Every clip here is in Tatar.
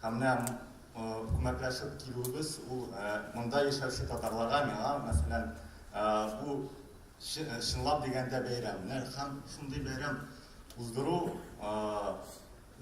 Һәм менә күмәкләшеп килүебез ул монда яшәүче татарларга, миңа, мәсәлән, бу чынлап дигәндә бәйрәм. Һәм шундый бәйрәм уздыру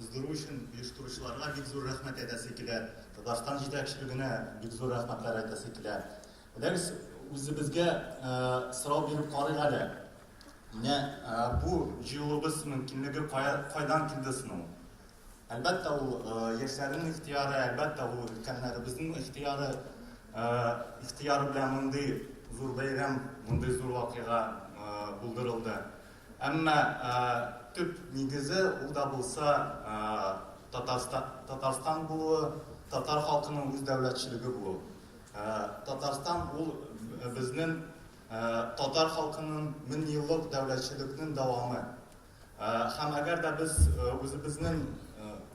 уздыру өчен оештыручыларга бик зур рәхмәт әйтәсе килә. Татарстан җитәкчелегенә бик зур рәхмәтләр әйтәсе килә. Беләгез, үзебезгә сорау биреп карыйк әле. Менә бу җыелуыбыз мөмкинлеге кая кайдан килде соң ул? Әлбәттә, ул яшьләрнең ихтыяры, әлбәттә, ул өлкәннәребезнең ихтыяры. Ихтыяры белән мондый зур бәйрәм, мондый зур вакыйга булдырылды. Әмма төп нигезе ул да булса Татарстан булуы, татар халкының үз дәүләтчелеге булуы. Татарстан ул безнең татар халкының меңьеллык дәүләтчелекнең дәвамы. Һәм әгәр дә без үзебезнең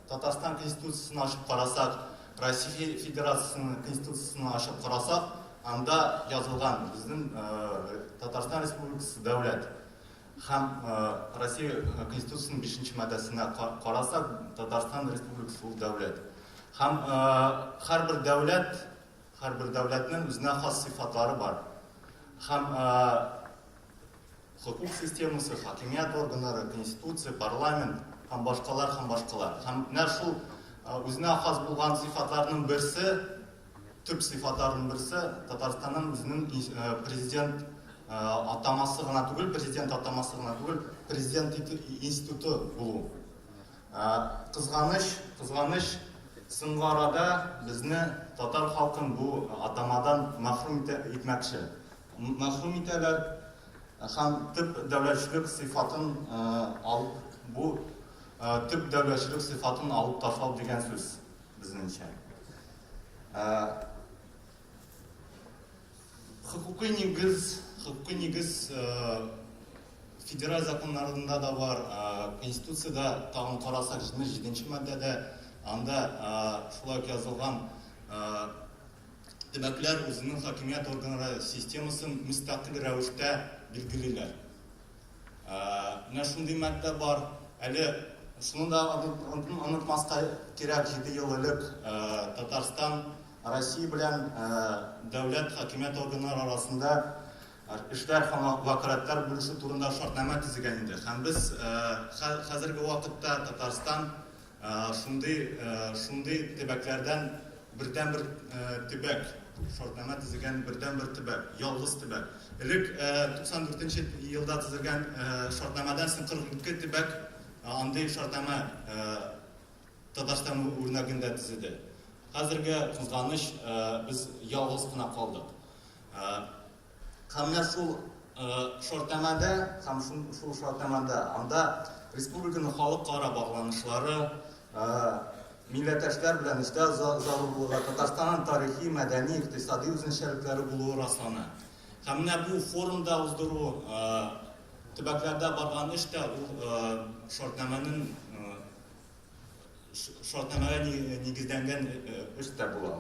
Татарстан Конституциясен ачып карасак, Россия Федерациясенең Конституциясен ачып карасак, анда язылган безнең Татарстан Республикасы дәүләт. Һәм Россия Конституциясенең 5 маддәсенә карасак, Татарстан Республикасы ул дәүләт. Һәм һәрбер дәүләт, һәрбер дәүләтнең үзенә хас сыйфатлары бар. Һәм Хокук системасы, хакимият органнары, конституция, парламент һәм башкалар һәм башкалар. Һәм менә шул үзенә хас булган сыйфатларның берсе, төп сыйфатларның берсе Татарстанның үзенең президент атамасы гына түгел, президент атамасы гына түгел, президент институты булу. Кызганыч, кызганыч, соңгы арада безне татар халкын бу атамадан мәхрүм итмәкче. мәхрүм итәләр һәм төп дәүләтчелек сыйфатын алып, бу төп дәүләтчелек сыйфатын алып ташлау дигән сүз, безнеңчә. Хокукый нигез, хокукый нигез федераль законнарында да бар, Конституциядә тагын карасак, 77 нче маддәдә, анда шулай ук язылган, Төбәкләр үзенең хакимият органнары системасын мөстәкыйль рәвештә билгелиләр. Менә шундый маддә бар. Әле шуны да онытмаска кирәк, җиде ел элек Татарстан Россия белән дәүләт хакимият органнары арасында эшләр һәм вәкаләтләр бүлешү турында шартнамә төзегән иде. Һәм без хәзерге вакытта Татарстан Шундый шундый төбәкләрдән бердәнбер төбәк, шартнама төзегән бердәнбер төбәк, ялгыз төбәк. Элек 94 нче елда төзелгән шартнамадан соң 42 төбәк андый шартнама Татарстан үрнәгендә төзеде. Хәзерге кызганыч, без ялгыз кына калдык. Һәм менә шул шартнамәдә, һәм шул шартнамәдә анда республиканың халыкара багланышлары, милләттәшләр белән эшләү зарурлыгы, Татарстанның тарихи, мәдәни, икътисади үзенчәлекләре булуы раслана. Һәм менә бу форумда уздыру төбәкләрдә барган эш тә ул шартнамәнең шартнамәгә нигезләнгән эш тә була.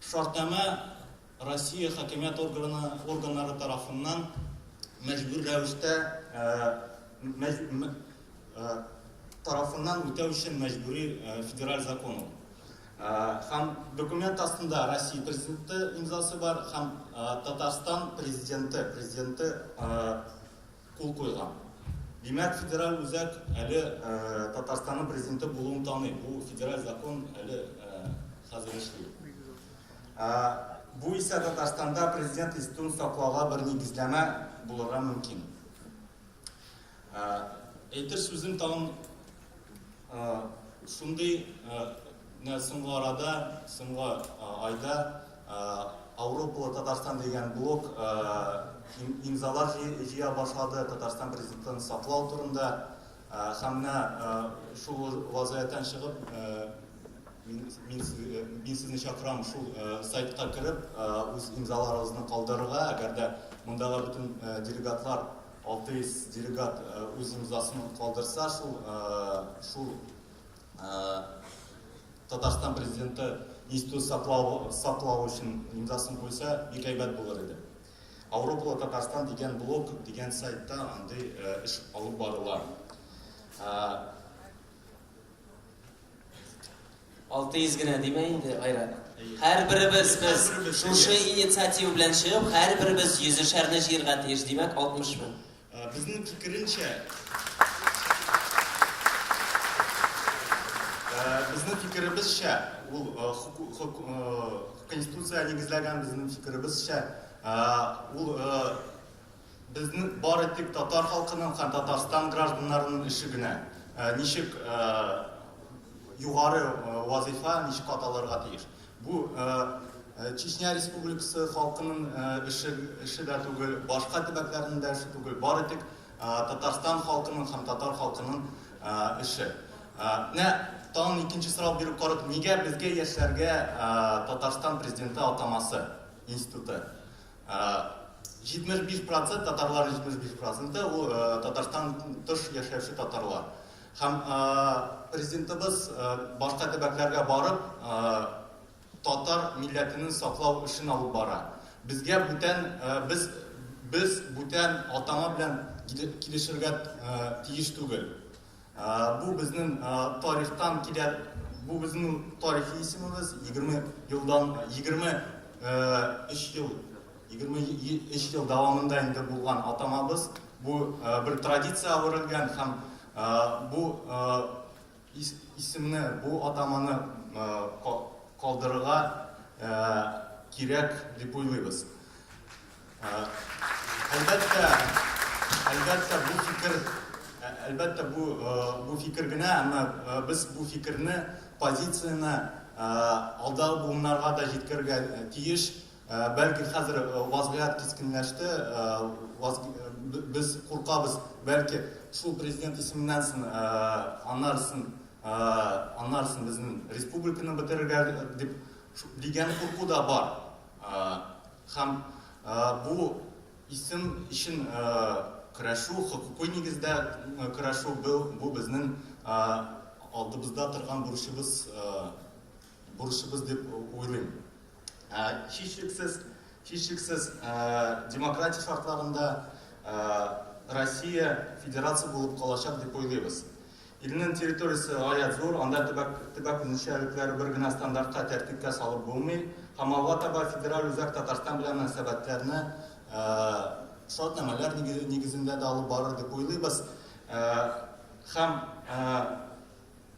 Шартнамә Россия хакимият органы органнары тарафыннан мәҗбүр рәвештә тарафыннан үтәү өчен мәҗбүри федераль закон ул. Һәм документ астында Россия президенты имзасы бар һәм Татарстан президенты президенты кул куйган. Димәк, федераль үзәк әле Татарстанның президенты булуын таный. Бу федераль закон әле хәзер эшли. Бу исә Татарстанда президент институтын саклауга бер нигезләмә булырга мөмкин. Әйтер сүзем тагын шундый, менә соңгы арада, соңгы айда Авропалы Татарстан дигән блог имзалар җыя башлады Татарстан президентын саклау турында. Һәм менә шул вазгыятьтән чыгып, мин сезне чакырам шул сайтка кереп, үз имзаларыгызны калдырырга. Әгәр дә мондагы бөтен делегатлар, 600 делегат үз имзасын калдырса, шул Татарстан президенты институт саклау, саклау өчен имзасын куйса, бик әйбәт булыр иде. Авропалы Татарстан дигән блог дигән сайтта андый э, эш алып барыла. Алты йөз генә димә инде, Айрат. Һәр беребез без шушы инициатива белән чыгып, һәр беребез йөзешәрне җыярга тиеш, димәк, 60 мең. Безнең фикеренчә, безнең фикеребезчә, ул Конституциягә нигезләгән безнең фикеребезчә, ул безнең бары тик татар халкының һәм Татарстан гражданнарының эше генә, ничек югары вазыйфа ничек аталырга тиеш. Бу Чечня Республикасы халкының эше, эше дә түгел, башка төбәкләрнең дә эше түгел, бары тик Татарстан халкының һәм татар халкының эше. Менә тагын икенче сорау биреп карыйк, нигә безгә яшьләргә Татарстан президенты атамасы институты? 75% татарлар 75% ул Татарстан тыш яшәүче татарлар. Һәм Президентыбыз башка төбәкләргә барып татар милләтенең саклау эшен алып бара. Безгә бүтән, без без бүтән атама белән килешергә тиеш түгел. Бу безнең тарихтан килә, бу безнең тарихи исемебез, егерме елдан, егерме өч ел 23 ел дәвамында инде булган атамабыз бу бер традиция әверелгән һәм бу исемне, бу атаманы калдырырга кирәк дип уйлыйбыз. Әлбәттә, әлбәттә бу фикер, әлбәттә бу бу фикер генә, әмма без бу фикерне, позицияне алдагы буыннарга да җиткерергә тиеш, Ә, бәлки хәзер вазгыять кискенләште, без куркабыз, бәлки шул президент исеменнән сон, аннарысын, аннарысын безнең республиканы бетерергә дип, дигән курку да бар. Һәм бу исем өчен көрәшү, хокукый нигездә көрәшү, бу безнең алдыбызда торган бурычыбыз. бурычыбыз дип уйлыйм. Ә, һичшиксез, һичшиксез, ә, демократия шартларында ә, Россия федерация булып калачак дип уйлыйбыз. Илнең территориясе гаять зур, анда төбәк, төбәк үзенчәлекләре бер генә стандартка тәртипкә салып булмый. Һәм алга таба федераль үзәк Татарстан белән мөнәсәбәтләрне ә, шарт нәмәләр нигезендә дә алып барыр дип уйлыйбыз. Ә, һәм ә,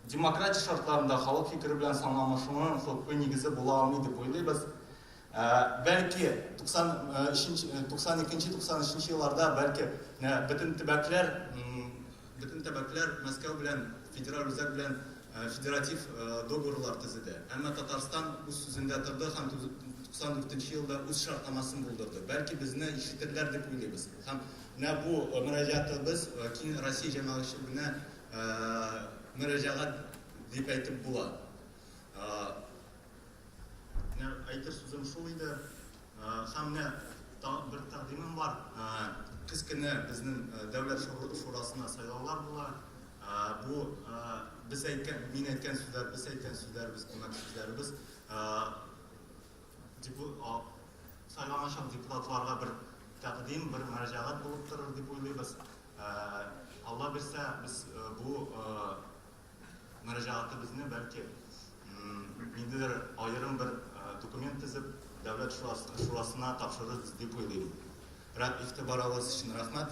Демократия шартларында халык фикере белән санланышуның хокукый нигезе була алмый дип уйлыйбыз. Ә, бәлки 92-93 елларда бәлки бөтен төбәкләр бөтен төбәкләр Мәскәү белән федераль үзәк белән федератив договорлар төзеде. Әмма Татарстан үз сүзендә торды һәм 94 елда үз шартнамасын булдырды. Бәлки безне ишетерләр дип уйлыйбыз. Һәм менә бу мөрәҗәгатебез киң Россия җәмәгатьчелегенә мөрәҗәгать дип әйтеп була. Менә әйтер сүзем шул иде. Һәм менә тагын бер тәкъдимем бар. Көз көне безнең Дәүләт шурасына сайлаулар була. Бу без әйткән, мин әйткән сүзләр, без әйткән сүзләребез, күмәк сүзләребез. Депутат сайламыйчан депутатларга бер тәкъдим, бер мөрәҗәгать булып торыр дип уйлыйбыз. Алла бирсә, без бу мөрәҗәгатебезне, бәлки, ниндидер аерым бер документ төзеп, Дәүләт шурасына тапшырырбыз дип уйлыйм. Рәт игътибарыгыз өчен рәхмәт.